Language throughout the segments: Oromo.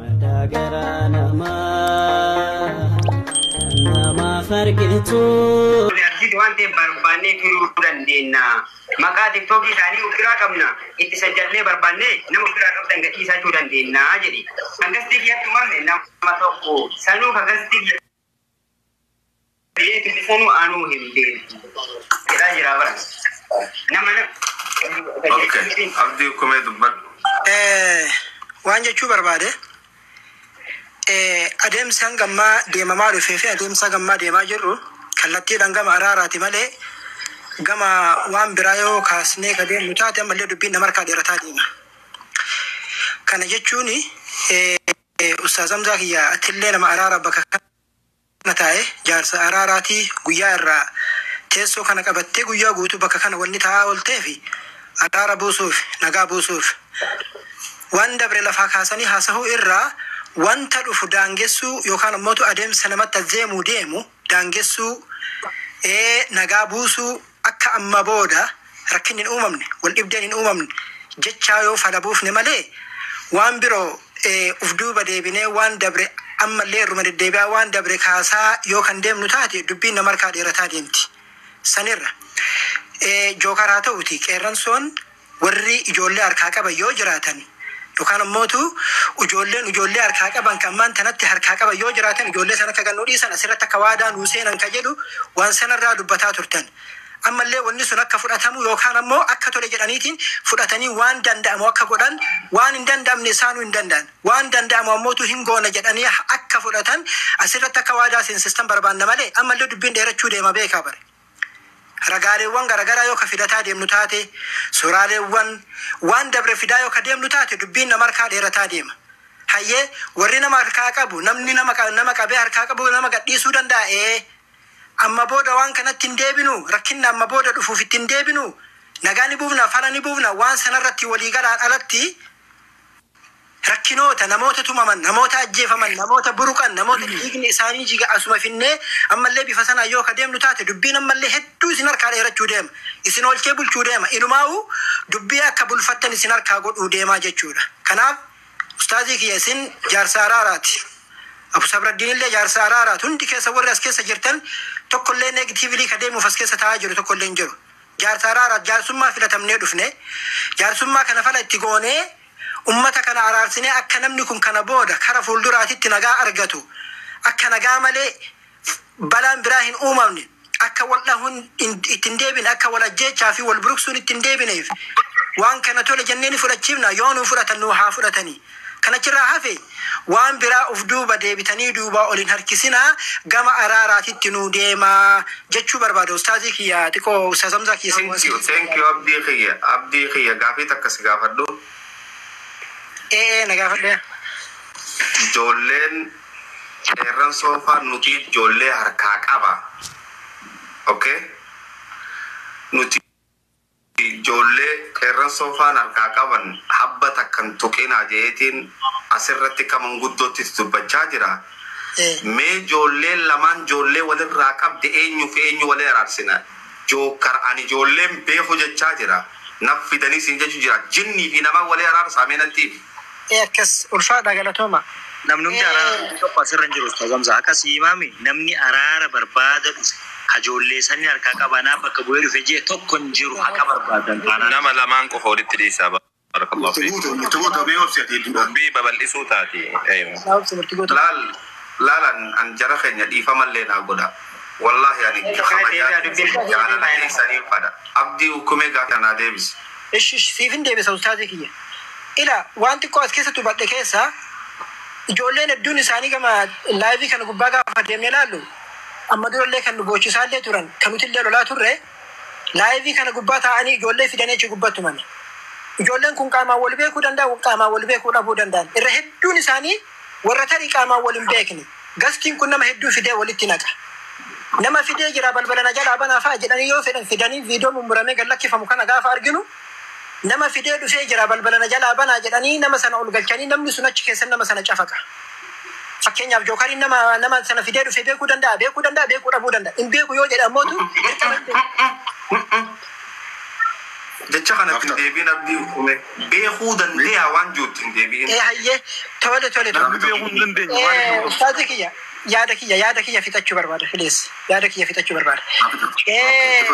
Maddaa garaa namaa namaaf argitu. Artisti waan ta'eef barbaannee turuu dandeenya. Maqaa tiktookii isaanii of biraa qabna. Itti sajjallee barbaannee nama of biraa qabdan gadhiisaa jechuu dandeenya jedhi. Kan gastii kiyyatti uumame nama tokko. Sanuu kan gastii kiyyatti. Beeti sanu anuu hin beektu jedhaa jiraa bara nama na Okay. Abdii kumee dubbadhu. Eh, waan jechuu barbaade eh, adeemsi hanga ammaa deemamaa dhufee fi adeemsa hanga ammaa deemaa jirru kallattiidhaan gama araaraati malee gama waan biraa yoo kaasnee ka deemnu taate ammallee dubbiin nama harkaa dheerataa deema. Kana jechuun eh, Ustaaz Hamzaa kiyyaa atillee nama araara bakka kana taa'e jaarsa araaraati guyyaa irraa teessoo kana qabattee guyyaa guutuu bakka kana wanni taa'aa oolteef araara buusuuf nagaa buusuuf waan dabre lafaa kaasanii haasahuu irraa wanta dhufu daangessuu yookaan ammootu adeemsa namatti adeemu deemu daangessuu ee nagaa buusuu Akka amma booda rakkinni hin uumamne, waldhibdeen hin uumamne jechaa yoo fala buufne malee waan biroo uf duuba deebinee waan dabre ammallee irruma deddeebi'aa waan dabre kaasaa yoo kan deemnu taate dubbiin nama harkaa dheerataa deemti. Sanirra, Jookar haa ta'uutii Qeerransoon Warri ijoollee harkaa qaban yoo jiraatan yookaan ammootu ujoolleen ujoollee harkaa qaban ka ammaan tanatti harkaa qaban yoo jiraatan ijoollee san akka gannuu dhiisan asirratti akka waadaa nuu seenan ka jedhu waan sanarraa dubbataa turtan. Ammallee wanni sun akka fudhatamu yookaan ammoo akka tole jedhaniitiin fudhatanii waan danda'amu akka godhan waan hin danda'amne isaanuu hin danda'an. Waan danda'amu ammootu hin goona jedhanii akka fudhatan asirratti akka waadaa seensistan barbaanna malee ammallee dubbiin dheerachuu deema beekaa bar. Ragaaleewwan garagaraa yoo ka fidataa deemnu taate, suuraaleewwan, waan dabre fidaa yoo ka deemnu taate dubbiin nama harkaa dheerataa deema. Hayyee, warri nama harkaa qabu, namni nama nama qabee harkaa qabu nama gad dhiisuu danda'a? Ee. Amma booda waan kanatti hin deebinu, rakkinna amma booda dhufuuf itti hin deebinu, nagaa ni buufna, fala ni buufna, waan sanarratti walii galaan alatti, Rakkinoota, namoota tumaman, namoota ajjeefaman, namoota buruqan, namoota dhiigni isaanii jige asuma finnee ammallee bifa sanaan yoo ka deemnu taate dubbiin ammallee hedduu isin harkaa dheerachuu deema. Isin oolchee bulchuu deema. Inumaawuu dubbii akka bulfattan isin harkaa godhuu deemaa jechuudha. Kanaaf ustaazii kiyya isin jaarsa araaraati. Abu Sabraddiinillee jaarsa araaraati. Hundi keessan warri as keessa jirtan tokkollee negatively ka deemuuf as keessa taa'aa jiru tokkollee hin jiru. Jaarsa araaraaf jaarsummaa filatamnee dhufne. Jaarsummaa kana fala itti goonee ummata kana araarsinee akka namni kun kana booda kara fuulduraatitti nagaa argatu, akka nagaa malee balaan biraa hin uumamne, akka wal dhahuun itti hin deebine, akka wal ajjeechaa fi wal buruqsuun itti hin deebineef waan kana tole jennee ni fudhachiifna. Yoo nuu fudhatan nuu haa fudhatani. Kan achirraa hafe waan biraa uf duuba deebitanii duubaa ol hin harkisinaa gama araaraatitti nuu deemaa jechuu barbaada ustaazii kiyya xiqoo ustaaz Hamzaa kiyya Thank you, thank you Abdii kiyya, Abdii kiyya gaafii takka si gaafadhu. Ee ee na gaafadhu. Ijoolleen qeerransoo faa nuti ijoollee harkaa qaba. Okay? Nuti. Ijoollee qeerransoo faan harkaa qaban habba takka hin tuqinaa je'eetiin asirratti akka manguddootti itti dubbachaa jira. Mee joolleen lamaan joollee walirraa qabde eenyuu fi eenyuu wali araarsina? Jookkar ani joollee hin beeku jechaa jira. Naf fidanii siin jechuu jira. Jinnii fi namaan wali araarsaa mee natti himi. Ee akkas ulfaadha galatooma. Namnumti araara Ee. dhufu tokko asirra hin jiru Ustaaz Hamza. Akka si himaame namni araara barbaada dhufe ka ijoollee isaanii harkaa qabanaa bakka bu'ee dhufe jee tokko hin jiru haqa barbaadan taanaan. Nama lamaan qofa walitti dhiisaa. Barakallahu Murti fiikum. guutu murti guutu mee obsi ati hedduu dha. Dubbii babal'isuu taati. Eeywa. Isaa obsi murti guutu. Laal laal an an jara keenya dhiifamallee naa godha. Wallahi ani kabajaa jaalala keessaniin fadha. Abdii ukkumee gaafa naa deebisi. Ishi ishi siifin deebisa ustaazii kiyya. Ilaa waan xiqqoo as keessatti hubadhe keessaa ijoolleen hedduun isaanii gama laayivii kana gubbaa gaafa deemne ilaallu amma durallee kan nu boochusaallee turan kan nutillee lolaa turre laayivii kana gubbaa taa'anii ijoollee fidanii achi gubbaa tumani. Ijoolleen kun qaamaan wal beekuu danda'u qaamaan wal beekuu dhabuu danda'an irra hedduun isaanii Warra tarii qaamaan wal hin beekne. Gastiin kun nama hedduu fidee walitti naqa. Nama fidee jira balbala na jalaa banaa fa'a jedhanii yoo fedhan fidanii viidiyoo mummuramee gad lakkifamu kana gaafa arginu nama fidee dhufee jira balbala na jalaa banaa jedhanii nama sana ol galchanii namni sun achi keessan nama sana cafaqa. Fakkeenyaaf jookariin nama nama sana fidee dhufee beekuu danda'a beekuu danda'a beekuu dhabuu danda'a hin beeku yoo jedhe ammootu dirqama hin beeku. Jecha kanatti hin deebiin abdii uumee. Beekuu dandeeyaa waan juutti hin deebi'in. Ee hayyee tole tole tole. Namni beekuu hin dandeenye waan Ee, hin Ustaazii kiyya yaada kiyya yaada kiyya fixachuu barbaada filees yaada kiyya fixachuu barbaada. Ee,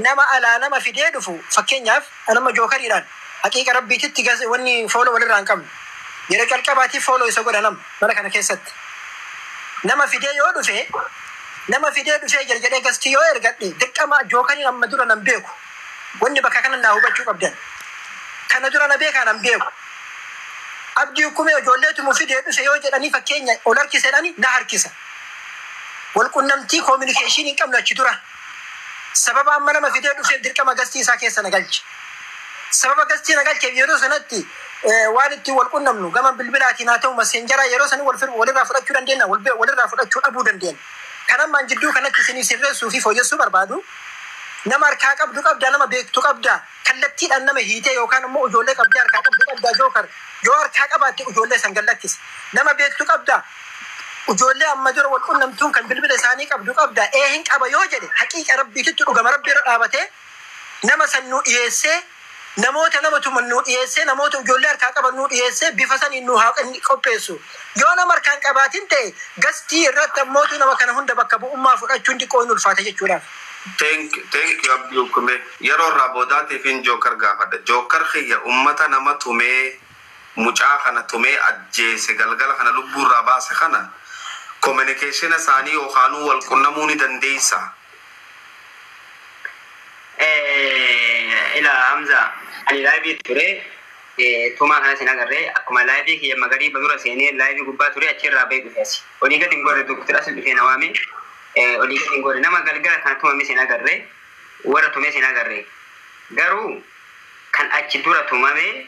nama alaa nama fidee dhufu fakkeenyaaf anamma jookariidhaan haqiiqa rabbiititti gas- wanni fooloo walirraa hin qabnu yeroo calqabaatiif fooloo isa godha nama mana kana keessatti nama fidee yoo dhufe nama fidee dhufee jira jedhee gastii yoo ergadhe dirqama jookariin amma dura nan beeku Wanni bakka kanannaa hubachuu qabdan. Kana dura na beekaan an beeku. Abdii Ukkumee ijoolleetumu fidee dhufe yoo jedhanii fakkeenya ol harkise jedhani na harkisa. Wal qunnamtii communication hin qabnu achi dura. Sababa amma nama fidee dhufeef dirqama gastii isaa keessa na galche. Sababa gastii na galcheef yeroo sanatti waan ittiin wal qunnamnu gama bilbilaatiin haa ta'u maseenjaraa yeroo sanii wal walirraa fudhachuu dandeenya wal walirraa fudhachuu dhabuu dandeenya. Kan ammaan jidduu kanatti isinii sirreessuu fi fooyyessuu barbaadu Nama harkaa qabdu qabdaa? Nama beektu qabdaa? Kallattiidhaan nama hiitee yookaan ammoo ujoollee qabdee harkaa qabdu qabdaa Joker? Yoo harkaa qabaatte ujoollee san gad lakkisi. Nama beektu qabdaa? Ujoollee amma dura wal qunnamtuun kan bilbila isaanii qabdu qabdaa? Ee hin qaba yoo jedhe haqiiqa Rabbiititti dhugama Rabbi irra dhaabatee nama san nuu dhiyeessee Namoota nama tuman nuu dhiyeessee, namoota ijoollee harkaa qaban nuu dhiyeessee bifa saniin nuu haa qopheessu. Yoo nama harkaa hin qabaatin ta'e gastii irratti ammootu nama kana hunda bakka bu'ummaa fudhachuun xiqqoo hin ulfaata jechuudhaaf. Thank thank you abdii ukkumee yeroo irraa boodaatiifin joker gaafadha joker kiyya ummata nama tumee mucaa kana tumee ajjeese galgala kana lubbuu irraa baase kana komenekeshina isaanii yookaanuu wal qunnamuu ni dandeessaa? Eh, ila Hamza, ani live ture eh, tumaa kanas hin agarre akkuma live kiyya magariiba dura seenee live gubbaa ture achi irraa ba'ee dhufe asi. Olii gad hin gorre Dr. Asil dhufee na waame eh, olii gad hin gorre nama galgala kana tumames hin agarre warra tumes hin agarre garuu kan achi dura tumame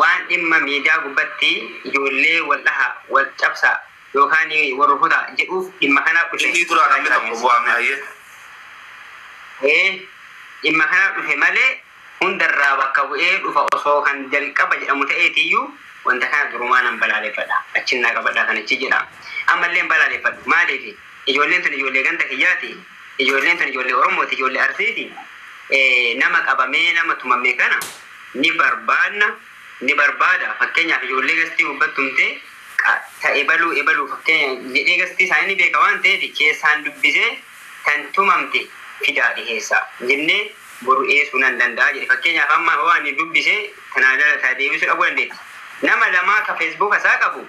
waan dhimma miidiyaa gubbatti ijoollee wal dhaha, wal cabsa yookaan wal rukuta jedhuuf dhimma kanaaf dhufe Innii duraa namni tokko bu'aa me hayyee. Ee, dhimma kanaaf dhufe malee hundarraa bakka bu'ee dhufa osoo kan jalqaba jedhamu ta'eetiyyuu wanta kana durumaa nan balaaleffadha. Achin naa qabadhaa kan achi jedha. Ammallee hin balaaleffadhu. Maaliifi? Ijoolleen tun ijoollee ganda kiyyaati. Ijoolleen tun ijoollee Oromooti, ijoollee Arsiiti. Nama qabamee, nama tumame kana ni barbaadna, ni barbaada. Fakkeenyaaf ijoollee gastii gubbatti tumtee qa- ta ebaluu ebaluu fakkeenya jedhee gastii isaanii ni beeka waan ta'eef keessaan dubbisee tan tumamte fidaa dhiheessaa jennee boru dhiheessuu nan danda'a jedhe. Fakkeenyaaf amma hoo ani dubbise tanaa jala taa deebisuu dhabuu dandeetti. Nama lamaa ka feesbuuka isaa qabu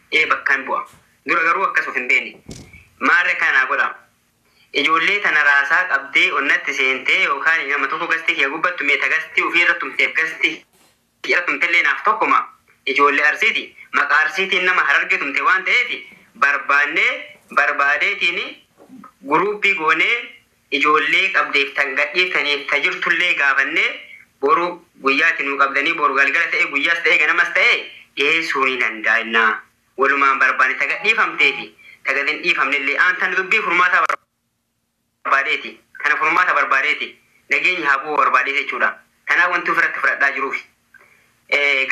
ee bakkan bu'a dura garuu akkas of hin beekne maarree akkana naa godhaa ijoollee tana raasaa qabdee onnatti seentee yookaan nama tokko gastii kiyya gubbattu mee ta gastii ufii irra tumteef gastii kiyya tumtellee naaf tokkoma ijoollee arsiiti maqaa arsiitiin nama harargee tumte waan ta'eef barbaannee barbaadeetiin guruuppii goonee ijoollee qabdeef tan gadhiiftaniif ta jirtullee gaafannee boru guyyaatti nuu qabdanii boru galgala ta'ee guyyaas ta'ee ganamas ta'ee dhiheessuu ni dandaayna walumaan barbaanne ta gadhiifamtee fi ta gad hin dhiifamnellee an tan dubbii furmaataa barbaadeeti tana furmaata barbaadeeti nageenyi haa bu'uu barbaadee jechuudha tanaa wanti ofirratti fudhadhaa jiruuf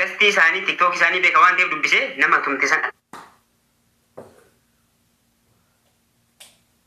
gastii isaanii tiktookii isaanii beeka waan ta'eef dubbisee nama tumte san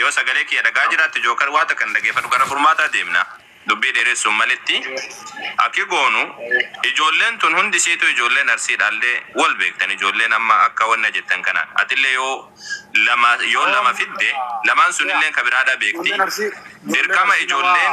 Yoo sagalee kiyya dhagaha jiraatte joker waa takka hin dhageefadhu gara furmaataa deemna dubbii dheeressuun malitti Aki goonu ijoolleen tun hundi isiituu ijoolleen arsii dhaallee wol beektan ijoolleen amma akka wanna jettan kana atillee yoo lama yoo lama fidde lamaan sunilleen ka biraadhaa beekti dirqama ijoolleen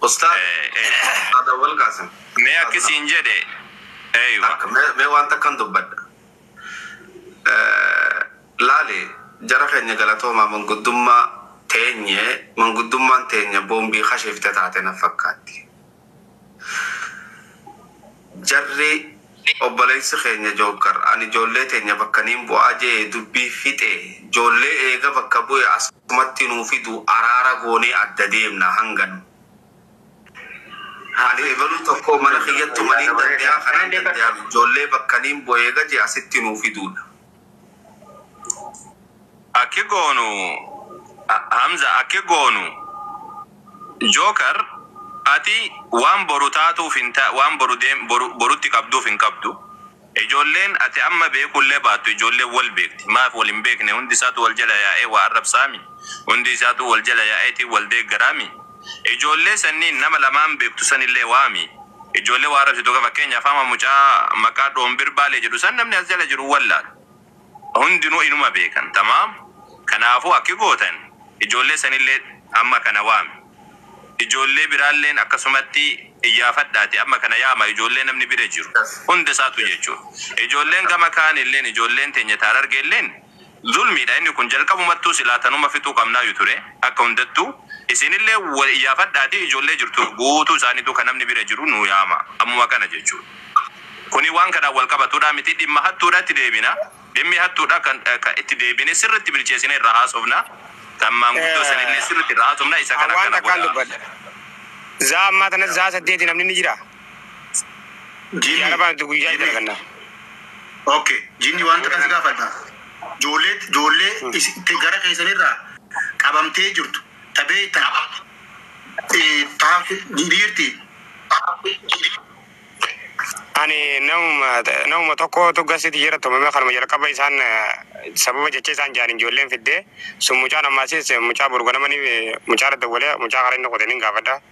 Ustaaz Eh, eh. Ustaaz Awwal Qaasim. Mee akki siin jedhe. Eywa. Akka mee mee waan takkan dubbadha. Eh, Laali jara keenya galatoomaa manguddummaa teenye manguddummaan teenya boombii kashiifte taate na fakkaatti. Jarri Obboleessi keenya Jookar ani ijoollee teenya bakka niin bu'aa je'ee dubbii fixe. Ijoollee eega bakka bu'e asumatti nuu fidu araara goonee adda deemna hanganu. Ani ebaluu tokkoo mana kiyyattu maniin dande'aa kanaan dande'aaf ijoollee bakka niin bu'e eega je'e asitti nuu fiduudha. Akki goonu Hamza akki goonu Joker ati waan boru taatuuf hin ta waan boru deem boru borutti qabduuf hin qabdu ijoolleen ati amma beekuu illee baattu ijoolleen wal beekti maaf wal hin beekne hundi isaatu wal jala yaa'ee waa arrabsaami hundi isaatuu wal jala yaa'eeti wal deeggaraami Ijoollee sanniin nama lamaan beektu sanillee waami. Ijoollee waa arrabsitu ka fakkeenyaaf amma mucaa maqaa Dhoombir-Baalee jedhu san namni as jala jiru wallaala. Hundinuu inuma beekan. Tamaam? Kanaafuu akki gootan ijoollee sanillee amma kana waami. Ijoollee biraalleen akkasumatti iyyaafadhaati amma kana yaama ijoollee namni bira jiru hunda isaatu jechuudha. Ijoolleen gama kaanilleen ijoolleen teenya ta Harargeelleen Zulmiidha inni kun jalqabumattuu silaa tanuma fixuu qabnaayyu ture akka hundattuu isiinillee wal iyyaafadhaatii ijoollee jirtu guutuu isaaniituu ka namni bira jiru nuu yaama ammuma kana jechuun kuni waan kanaan wal qabatudhaa miti dhimma hattuudhatti deebina dhimmi hattuudha kan ka itti deebine sirritti bilcheesine irraa haasofna kan maanguddoo sanillee sirritti irraa haasofna isa kana akkana godhaa. Zaa ammaa tanatti sa'a saddeeti namni ni jiraa? Jiini. Yaara baanti guyyaa Jiini. dalagannaa. Ok jinni waan takka si gaafadha joollee joollee isi- te- gara keessanirraa qabamtee jirtu ta beektan eh, ta dhiirti Ani namuma namuma tokkootu gasitti jira tumame kanuma jalqaba isaan eh, sababa jecha isaan jaaniin ijoolleen fiddee sun mucaan ammaasiis eh, mucaa burganamanii eh, mucaa irra dawwalee mucaa karaa inni qoteen hin gaafadha.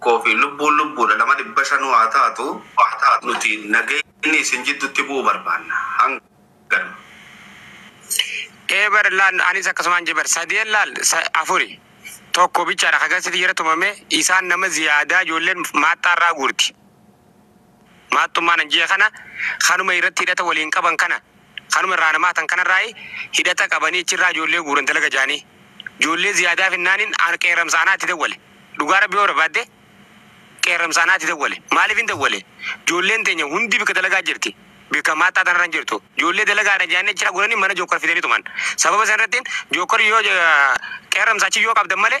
koo fi lubbuun lubbuudha nama dhibba shanuu haa taatu nuti nageenyi isin jiddutti bu'u barbaanna hanganuma. Ee bar laal anis akkasumaan jee bar sadeen laal sa, afuri tokko bichaadha ka garsiti jara tumame isaan nama ziyaadaa ijoolleen maaxxaarraa guurti. Maattummaan hanji'a kana kanuma irratti hidhata waliin qaban kana kanuma irraa namaatan kanarraayi hidhata qabanii achirraa ijoollee guuran dalaga jaanii. Ijoollee ziyaadaa finnaanin an qeerramsa anaati dawwale. Dhugaa rabbii yoo barbaadde qeerramsa anaati dawwale. Maaliifin dawwale? Ijoolleen teenya hundi bikka dalagaa jirti. Bikka maattaa tanarra hin jirtu. Ijoollee dalagaadha jaanii achirraa guuranii mana jookkar fidanii tuman. Sababa sanirrattin jookkar yoo qeerramsa achi yoo qabdan malee.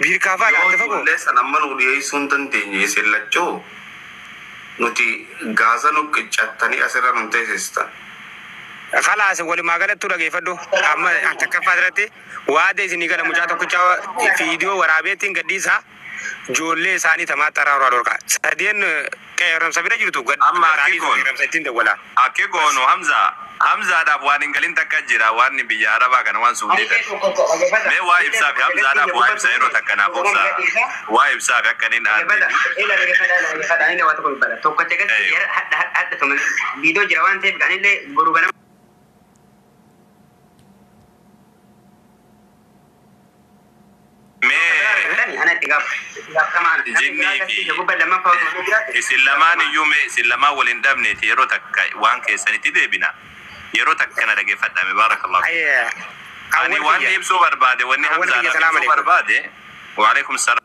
Biirkaa faa Yoo dhaatte fagoo. ijoollee san amma nuu dhiyeessuu hin dandeenye isin lachuu nuti Gaaza nu qiccattanii asirra nu teesistan. Khalaas walumaa galattuu dhageeffadhu amma an takkaffaa irratti waada isinii gala mucaa tokkicha fiidiyoo waraabeettiin gadhiisaa joollee isaanii tamaaxxaraa horaa dhorkaa sadeen Qeeramsa bira jirtu gad Amma akki dhaqaanii goonu. qeeramsa ittin dawwalaa. Akki goonu Hamza Hamzaadhaaf waan hin galin takka jira waan biyya arabaa kana waan suudii tana mee waa ibsaafi Hamzaadhaaf waa ibsa yeroo takka naaf obsaa waa ibsaafi akka nin aanneefi. isin lamaan iyyuu mee isin lamaan wal hin dhabneeti yeroo takka waan keessanitti deebina yeroo takka na dhaggeeffadhame baarakallahu ani waan ibsuu barbaade wanni hamzaan ibsuu barbaade waalaikum salaam